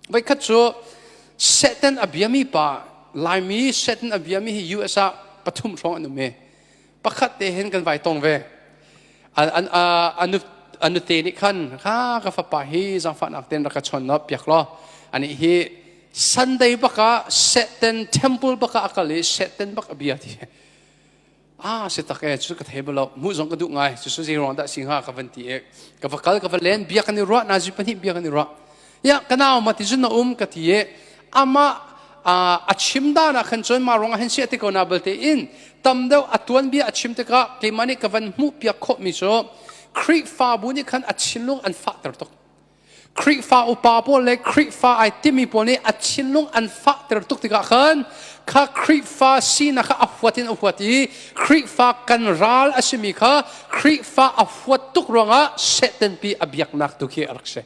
Voikhat cu Satan a biami pa Laimi Satan a biami hi US ah pathum hrawng an um i pakhat te hin kan vai tong ve. An a nute nih khan kha ka fapa hi zangfahnak tein rak ka chawn no piak law anih hi Sunday bak ah Satan temple bak ah a kal i Satan bak a bia ti ah si tak e cu ka thei bolo mu zong ka duh ngai su su zero da singa ka van ti e ka va kal ka va len bia kan i ruah na zu pani bia kan i ruah ya kanau ma ti zun na um ka ti e ama a chim da na khan choin ma rong hen si te ko na balte in tam deu atuan bia a chim te ka ke mani ka van mu pia kho mi cho khrihfa bu ni khan a chilung an fa ter tok Khrihfa upa pawl le Khrihfa ai timi pawl nih a thinlung an fahter tuk tikah khan kha Khrihfa sinak kha a huat in a huat i Khrihfa kan ral a simi kha Khrihfa a huat tuk ruangah Satanpi a biaknak tu khi a rak si.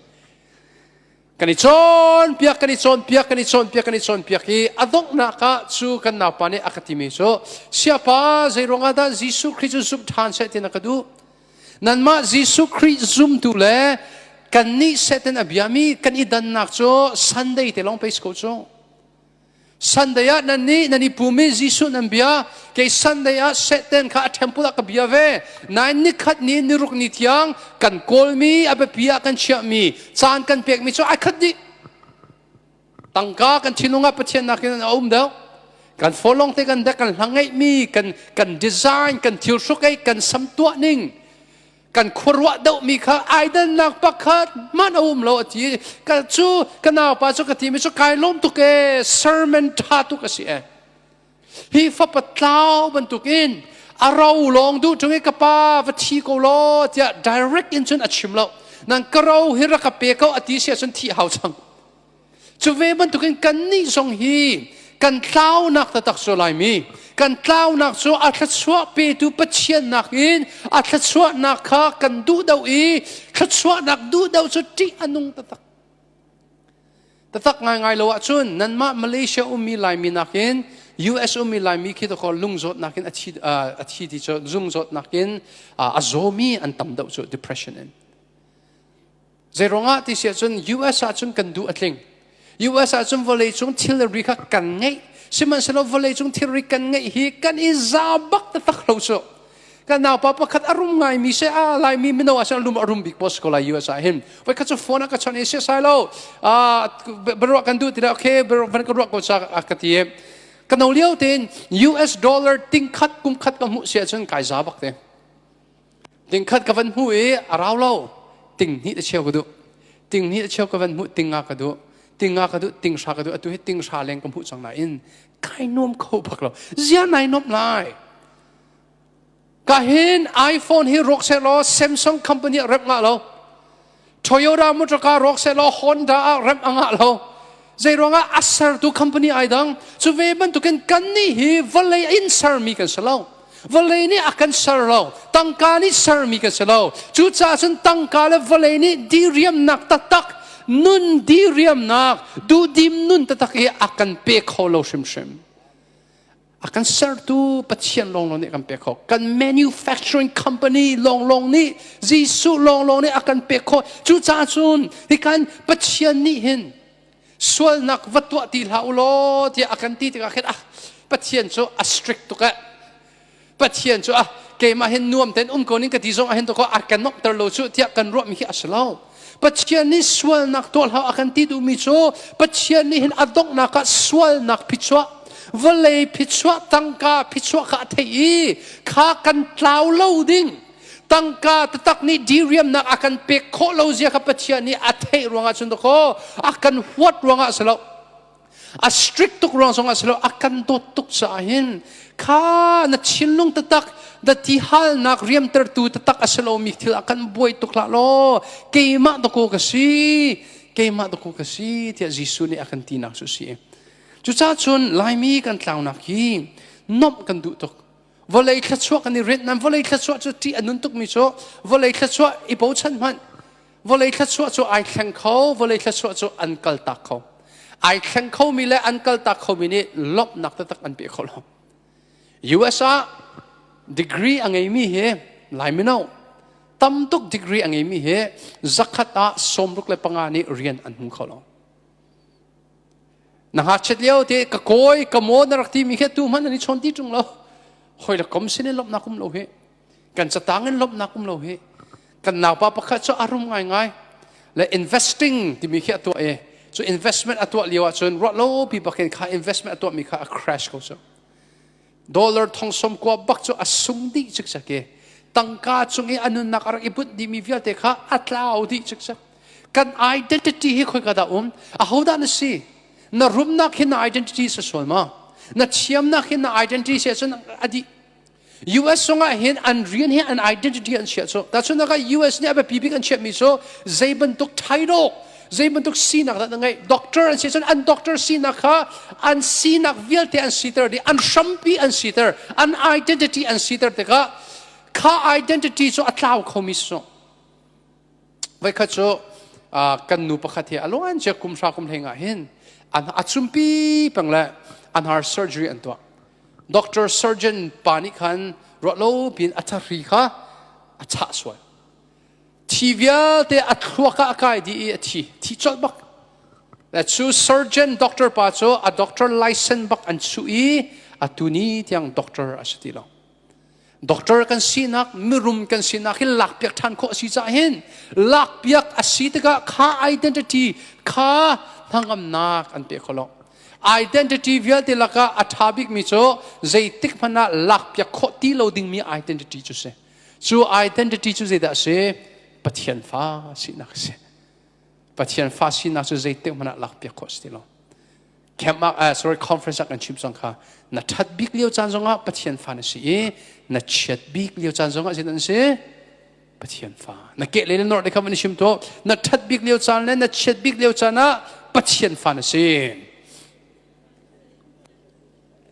Kan i cawnpiak, kan i cawnpiak, kan i cawnpiak, kan i cawnpiak i a donghnak ah cu kan naupa nih a ka timi cu siapa zei ruangah dah Jesuh Khrih cu zumh ṭhan seh tina ka duh. Nanmah Jesuh Khrih zumtu le kannih Satan a biami kan i dannak cu Sunday te lawng pei si ko cu. Sunday ah nan nih nan i pum i Jesuh nan bia kei Sunday ah Satan kha a temple ah ka bia ve nain nikhat ni niruk ni tiang kan kawlmi a biapi ah kan chiahmi caan kan pekmi cu ai khat dih tangka kan thinlung ah pathian nakin a um deuh kan folong te kan dek kan hlang ngeih mi kan kan design kan thil hruk ei kan sam tuah ning kan khuaruah deuh mi kha ai dannak pakhat man a um lo a ti ka cu ka naupa cu ka ti mi cu kai lom tuk e sermon tha tuk a si e hi fapa tlau bantuk in a ro lawng duh chung i ka pa va thi ko law tiah direct in cun a chim lo nang ka ro hi rak ka pe ko a ti si cun thi hau chang cu ve bantuk in kan nih zong hi kan tlaunak taktak cu laimi kan tlaunak cu a thluachuah petu pathiannak in a thluachuahnak kha kan duh do i thluachuahnak duh do cu ṭih a nung taktak Tatak ngaingai lo ahcun nanmah Malaysia ummi Laimi nakin US ummi Laimi khi takor lung zawt nakin a thi a thi ti cu zung zawt nakin a zawmi an tam deuh cu depression in zeiruang ah ti si ahcun US ahcun kan duh a tling US ahcun vawleicung thilri kha kan ngeih sihmanhsehlaw vawleicung thilri kan ngeih hi kan i za bak taktak lo cu kan naupa pakhat a rum ngaimi se a laimi mino ah sel lum a rum bik pos ko lai US ah hin voi khat cu phone ah ka chon ese sai lo a baruah kan duh tira okay van ka ruah ko sa ka ti ka no lio ten US dollar tingkhat kumkhat ka mu sia chun kai za bak te tingkhat ka van mu i a rau lo ting ni ta cheu ka du ting ni ta cheu ka van mu ting nga ka du ting nga ka du ting sha ka du atu hi ting sha leng ka mu chang na in kai nom kho bak lo zia nai nop lai Ka hin iPhone hi rawk seh law Samsung company ah rep ngah lo. Toyota motor car rawk seh law Honda ah rep a ngah lo. Zeiruangah a sertu company ai dang. Cu ve bantukin kan nih hi vawlei in sermi kan si lo. Vawlei nih a kan ser lo. Tangka nih sermi kan si lo. Cucaah cun tangka le vawlei nih diriamnak taktak, nun diriamnak, duhdim nun taktak hi a kan pe kho lo hrimhrim. a kan sertu Pathian lawnglawng nih kan pek khawh kan manufacturing company lawnglawng nih Jesuh lawnglawng nih a kan pek khawh cucaah cun hi kan Pathian nih hin sualnak va tuah ti hlah u law tiah a kan ti tikah khin ah Pathian cu a strict tuk eh Pathian cu ah keimah hin nuam tein um ko ning ka ti zong ah hin tukah a kan nomhter lo cu tiah kan ruahmi hi a si lo Pathian nih sualnak tuah hlah a kan ti duhmi cu Pathian nih hin a donghnak ah sualnak phichuah vawlei phichuah tangka phichuah kha a theih i kha kan tlau lo ding tangka tatak nih diriamnak a kan pek khawh lo zia kha Pathian nih a theih ruangah cun dakaw a kan huat ruangah si lo a strict tuk ruang zong ah si lo a kan dawt tuk caah hin kha na thinlung tatak na ti halnak riamtertu tatak a si lomi thil a kan buai tuk hlah law keimah dako ka si keimah dako ka si tiah Jesuh nih a kan tinak cu si cucaah cun laimi kan tlaunak hi nomh kan duh tuk vawlei thluachuah kan i renhnan vawlei thluachuah cu ṭih a nun tukmi cu vawlei thluachuah i bochan hmanh Vawlei thluachuah cu ai thleng kho, vawlei thluachuah cu an kaltak kho. Ai thleng khomi le an kaltak khomi nih lawmhnak taktak an pe kho lo. US ah degree a ngeimi hi lai mino tam tuk degree a ngeimi hi zakhat ah sawmruk le panga nih rian an hmu kho lo. Na ngakchiat lio te ka koi ka maw na rak timi khi tu hman an i chawn ti tung lo. Hoi la kom sin in lawmhnak um lo hi. kan catang in lawmhnak um lo hi kan naupa pakhat cu a rum ngaingai le investing timi khi a tuah i cu investment a tuah lio ahcun ruah lo pi bakin kha investment a tuahmi kha a crash ko cu dollar thongsom kua bak cu a sung dih cikcek i tangka cung i a nunnak a rak i bunh dihmi vialte kha a tlau dih cikcek kan identity hi khoi ka dah um ahodah na si na rumnak hi na identity si sual ma na thiamnak hi na identity si ahcun a dih US sung ah hin an rian hi an identity an chia cu tahchunaka US nih a biapi bik an chiahmi cu zei bantuk title zei bantuk sinak dah na ngeih doctor an si cun an doctor sinak kha an sinak vialte an siter dih an hrampi an siter an identity an siter tikah kha identity cu a tlau khomi su Voikhat cu kan nu pakhat hi a luancia kumhra kumhleng ah hin a cumpi peng le a hnar surgery an tuah. Doctor surgeon pa nih khan ruah lo piin a thahri kha a chah sual. Thi vialte a thluak ah a kai dih i a thi. Thi colh bak. Cu surgeon doctor pa cu a doctor license bak an su i a tuni tiang doctor a si ti lo. Doctor kan sinak, mirum kan sinak hi lakpiak ṭhan khawh a si caah hin lakpiak a si tikah kha identity, kha hnangamnak an pek khawh lo. Identity vialte lakah a ṭha bikmi cu zeitik hmanh ah lakpiak khawh ti lo dingmi identity cu si. Cu identity cu zeidah a si? Pathian fa sinak a si. Pathian fa sinak cu zeitik hmanh ah lakpiak khawh a si ti lo. camp ah uh, sorry conference ah kan chim song kha na that bik lio caan zongah pathian fa na si i na chiat bik lio caan zongah zin an si pathian fa na ke le nor de kham ni shim to na that bik lio caan le na chiat bik lio caan ah pathian fa na si